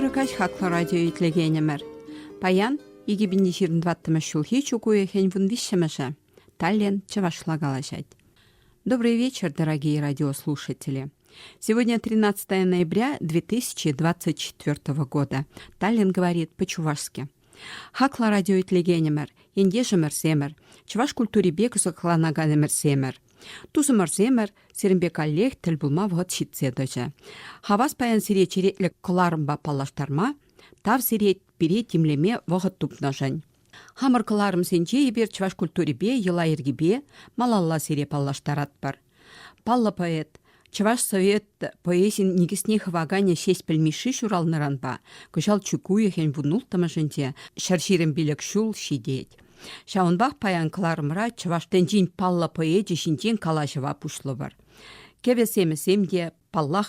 Тӳрӗ каҫ хаклӑ радио итлекенӗмӗр. Паян 2025 ҫулхи чук уйӑхӗн вун виҫҫӗмӗшӗ. Таллин чӑвашла калаҫать. Добрый вечер, дорогие радиослушатели. Сегодня 13 ноября 2024 года. Таллин говорит по-чувашски. Хаклӑ радиоитлекенӗмӗр, ентешӗмӗрсемӗр, чӑваш культурипе кӑсӑкланаканӗмӗрсемӗр! Тусӑмӑрсемӗр, сирӗнпе каллех тӗл пулма вӑхӑт ҫитсе тӑчӗ. Хавас паян сире черетлӗ кӑларӑмпа паллаштарма, тав сире пире тимлеме вӑхӑт тупнӑшӑн. Хамӑр кӑларӑмсенче эпир чӑваш культурипе, йӑла-йӗркипе малалла сире паллаштаратпӑр. Паллӑ поэт, Чӑваш Совет поэзин никӗсне хываканӗ Ҫеҫпӗл Мишши ҫуралнӑранпа кӑҫал чӳк уйӑхӗн вун улттӑмӗшӗнче ҫӗр ҫирӗм пилӗк ҫул ҫитет. Ҫавӑнпах паян кӑларӑмра чӑваш тӗнчин паллӑ поэчӗ ҫинчен калаҫӑва пуҫлӑпӑр. Кӗвӗ-семӗсем те, паллах,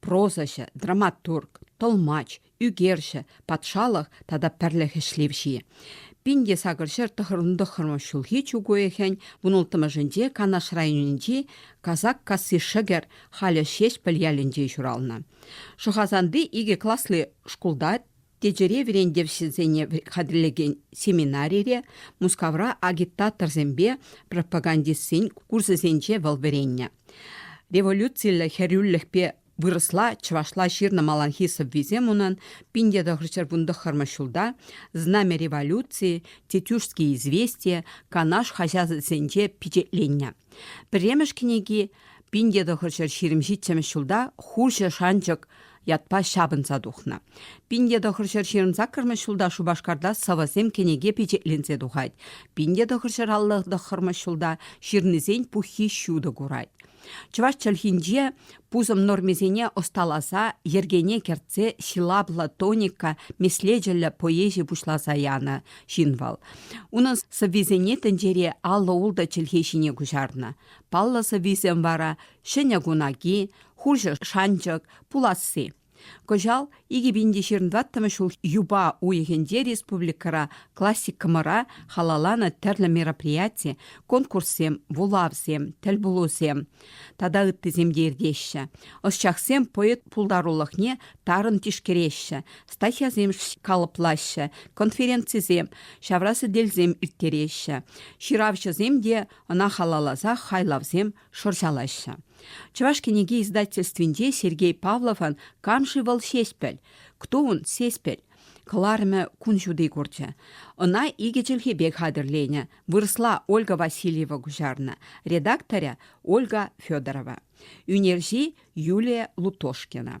прозаҫӑ, драматург, тӑлмач, ӳкерҫӗ, патшалӑх тата пӗрлӗх ӗҫлевҫи. Пин те сакӑр ҫӗр тӑххӑрмӗш ҫулхи чӳк уйӑхӗн вунулттӑмӗшӗнче Канаш районӗнчи Казак касси Шӗкӗр, халӗ Ҫеҫпӗл ялӗнче ҫуралнӑ. Шӑхасанти икӗ класлӑ шкулта Течӗре вӗрентевҫӗсене хатӗрлекен семинарире Мускавра агитаторсемпе пропагандистсен курсӗсенче вӑл вӗреннӗ. Революциллӗ хӗрӳлӗхпе вырӑсла, чӑвашла ҫырнӑ маланхи сӑввисем унӑн пин те тӑхӑрҫӗр вунтӑххӑрмӗш ҫулта «Знамя революции», «Тетюшские известия», «Канаш» хаҫатсенче пичетленнӗ. Пӗрремӗш кӗнеки пин те тӑхӑрҫӗр ҫирӗм ҫиччӗмӗш ҫулта хурҫӑ шанчӑк ятпа ҫапӑнса тухнӑ. Пин те тӑхӑр ҫӗр ҫырӑнсаккӑрмӗш ҫулта Шупашкарта сӑвӑсем кӗнеке пичетленсе тухать. Пин те тӑхӑр ҫӗр алла тӑххӑрмӗш ҫулта ҫырнисен пуххи ҫутӑ курать. Чӑваш чӗлхинче пусӑм нормисене ӑсталаса йӗркене кӗртсе ҫилаплӑ тоника меслечӗллӗ поэзи пуҫласа янӑ ҫын вӑл. Унӑн сӑввисене тӗнчере аллӑ-ултӑ чӗлхе ҫине куҫарнӑ. Паллӑ сӑввисем вара ҫӗнӗ кунаки, хурҫӑ шанчӑк, пуласси. Кӑҫал 2025 ҫул юпа уйӑхӗнче республикӑра классикӑмӑра халалланӑ тӗрлӗ мероприяти, конкурссем, вулавсем, тӗл пулусем тата ыттисем те иртеҫҫӗ. Ӑсчахсем поэт пултарулӑхне тарӑн тишкереҫҫӗ, статьясем калӑплаҫҫӗ, конференцисем, ҫавра сӗтелсем ирттереҫҫӗ. Ҫыравҫӑсем те ӑна халалласа хайлавсем шӑрҫалаҫҫӗ. Чӑваш кӗнеке издательствинче Сергей Павловӑн «Кам-ши вӑл Ҫеҫпӗл? Кто он Ҫеҫпӗл?» кӑларӑмӗ кун ҫути курчӗ. Ӑна икӗ чӗлхепе хатӗрленӗ, вырӑсла Ольга Васильева куҫарнӑ, редакторӗ Ольга Федорова, ӳнерҫи Юлия Лутошкина.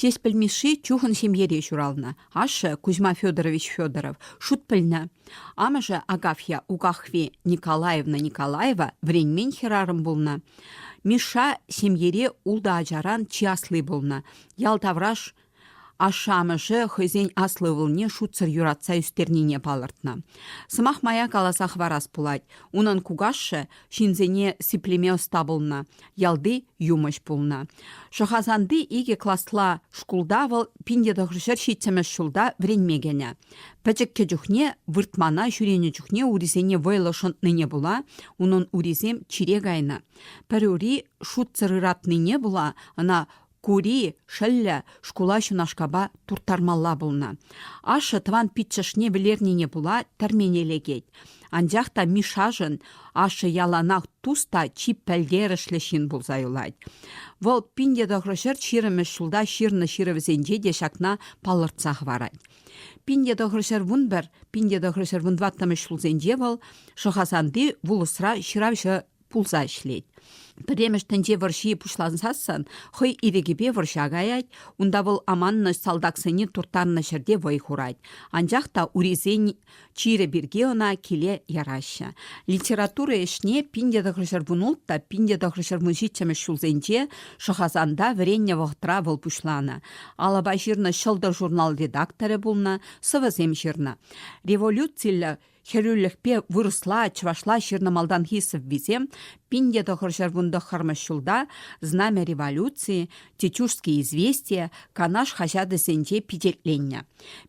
Ҫеҫпӗл Мишши чухӑн ҫемьере ҫуралнӑ. Ашшӗ Кузьма Федорович Федоров шут пӗлнӗ. Амӑшӗ Агафья Угахви Николаевна Николаева вӗренмен хӗрарӑм пулнӑ. Мишша ҫемьере ултӑ ачаран чи асли пулнӑ. Ял тавраш Ашшӗ-амӑшӗ хӑйсен аслӑ ывӑлне шутсӑр юратса ӳстернине палӑртнӑ. Сӑмах мая каласа хӑварас пулать, унӑн кукашшӗ ҫынсене сиплеме ӑста пулнӑ, ялти юмӑҫ пулнӑ. Шӑхасанти икӗ класла шкулта вӑл пин-тӑхӑр ҫӗр ҫиччӗмӗш ҫулта вӗренме кӗнӗ. Пӗчӗккӗ чухне выртмана ҫӳренӗ чухне урисене вӑйлӑ шӑнтнине пула унӑн урисем чире кайнӑ. Пӗр ури шутсӑр ыратнине пула ӑна Кури, шӑллӗ, шкула ҫунашкапа турттармалла пулнӑ. Ашшӗ тӑван пиччӗшне вӗлернине пула тӗрмене лекет. Анчах та Мишашӑн ашшӗ яланах тус та чи пӗлтерӗшлӗ ҫын пулса юлать. Вӑл пин те тӑхӑр ҫӗр ҫирӗммӗш ҫулта ҫырнӑ ҫырӑвӗсенче те ҫакна палӑртса хӑварать. Пин те тӑхӑр ҫӗр вун пӗр, пин те тӑхӑр ҫӗр вун тӑваттӑмӗш ҫулсенче вӑл Шӑхасанти вулӑсра ҫыравҫӑ пулса ӗҫлет. Пӗремӗш тӗнче вӑрҫи пуҫлансассан хӑй ирӗкӗпе вӑрҫа каять, унта вӑл аманнӑ салтаксене турттарнӑ ҫӗрте вӑй хурать. Анчах та урисен чирӗ пирки ӑна киле яраҫҫӗ. Литература ӗҫне пин те тӑхӑр ҫӗрпун улт та пин те тӑхӑр ҫӗрпун ҫиччӗмӗш ҫулсенче Шӑхасанта вӗреннӗ вӑхӑтра вӑл пуҫланӑ. Алӑпа ҫырнӑ ҫӑлтӑр журнал редакторӗ пулнӑ, сӑвӑсем ҫырнӑ. Революциллӗ Хӗрӳлӗхпе вырӑсла, чӑвашла ҫырнӑ малтанхи сӑввисем пин те тӑхӑр ҫӗркун тӑххӑрмӗш ҫулта «Знамя революции», «Тетюшские известия», «Канаш» хаҫатӗсенче пичетленнӗ.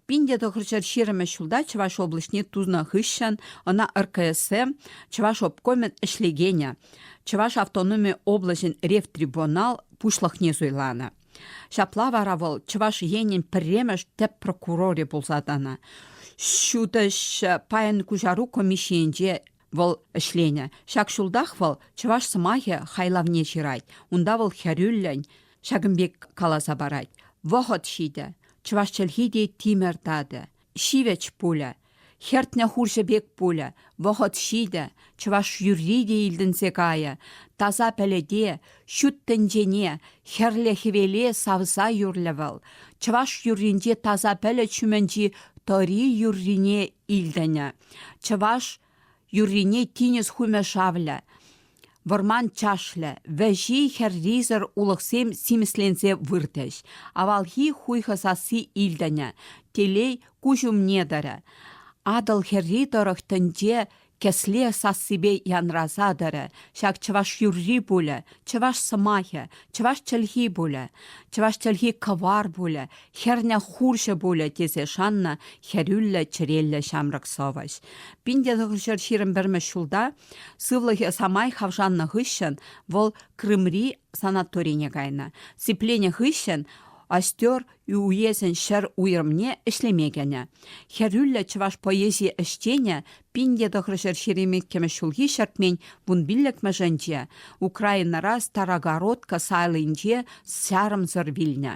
Пин те тӑхӑр ҫӗр ҫирӗммӗш ҫулта Чӑваш облаҫне тунӑ хыҫҫӑн ӑна РКСМ Чӑваш обкомӗн ӗҫлекенӗ, Чӑваш автономи облаҫӗн ревтрибунал пуҫлӑхне суйланӑ. Ҫапла вара вӑл Чӑваш Енӗн пӗрремӗш тӗп прокурорӗ пулса тӑнӑ. Ҫутӑҫ пайӑн куҫару комиссийӗнче вӑл ӗҫленӗ. Ҫак ҫултах вӑл чӑваш сӑмахӗ хайлавне ҫырать. Унта вӑл хӗрӳллӗн ҫакӑн пек каласа парать: Вӑхӑт ҫитӗ, чӑваш чӗлхи те тимӗр татӗ. ҫивӗч пулӗ. Хӗртнӗ хурҫӑ пек пулӗ, вӑхӑт ҫитӗ, чӑваш юрри те илтӗнсе кайӗ, таса пӗлӗте, ҫут тӗнчене, хӗрлӗ-хӗвеле савса юрлӗ вӑл. Чӑваш юрринче таса пӗлӗт ҫумӗнчи тӑри юррине илтӗнӗ. Чӑваш юррине тинӗс хумӗ шавлӗ, вӑрман чашлӗ, вӗҫи хӗррисӗр улӑхсем симӗсленсе выртӗҫ. Авалхи хуйхӑ сасси илтӗнӗ, телей куҫ умне тӑрӗ. Атӑл хӗрри тӑрӑх тӗнче кӗсле сассипе янраса тӑрӗ. Ҫак чӑваш юрри пулӗ, чӑваш сӑмахӗ, чӑваш чӗлхи пулӗ, чӑваш чӗлхи кӑвар пулӗ, Хӗрне хурҫӑ пулӗ, тесе шаннӑ хӗрӳллӗ чӗреллӗ ҫамрӑк сӑвӑҫ. Пин те тӑхӑрҫӗр ҫирӗм пӗрмӗш ҫулта сывлӑхӗ самай хавшаннӑ хыҫҫӑн вӑл Крымри санаторине кайнӑ. Сипленӗ хыҫҫӑн Остер уесӗн ҫӗр уйрӑмне ӗҫлеме кӗнӗ. Хӗрӳллӗ чӑваш поэзи ӗҫченӗ пин те тӑхӑрҫӗр ҫирӗм иккӗмӗш ҫулхи ҫӗртмен вун пиллӗкмӗшӗнче Украинӑра Старогородка сайлинче сарӑмсӑр вилнӗ.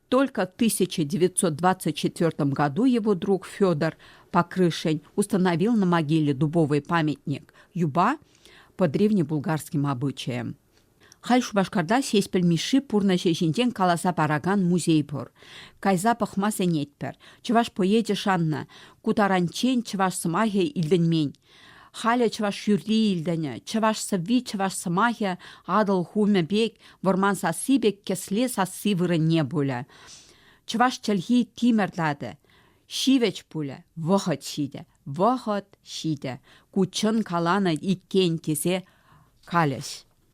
Только в 1924 году его друг Федор Покрышень установил на могиле дубовый памятник юба по древнебулгарским обычаям. Халь Шупашкарта сеспел Миши пурнӑҫӗ ҫинчен каласа паракан музей пур. Кайса пӑхма сӗнетпӗр. Чӑваш поэчӗ шаннӑ, ку таранччен чӑваш сӑмахӗ илтӗнмен. Халӗ чӑваш юрри илтӗнӗ. Чӑваш сӑвви, чӑваш сӑмахӗ Атӑл хумӗ пек, вӑрман сасси пек кӗсле сасси вырӑнне пулӗ. Чӑваш чӗлхи тимӗр-татӑ, ҫивӗч пулӗ, вӑхӑт ҫитӗ, вӑхӑт ҫитӗ, ку чӑн каланӑ иккен тесе калӗҫ.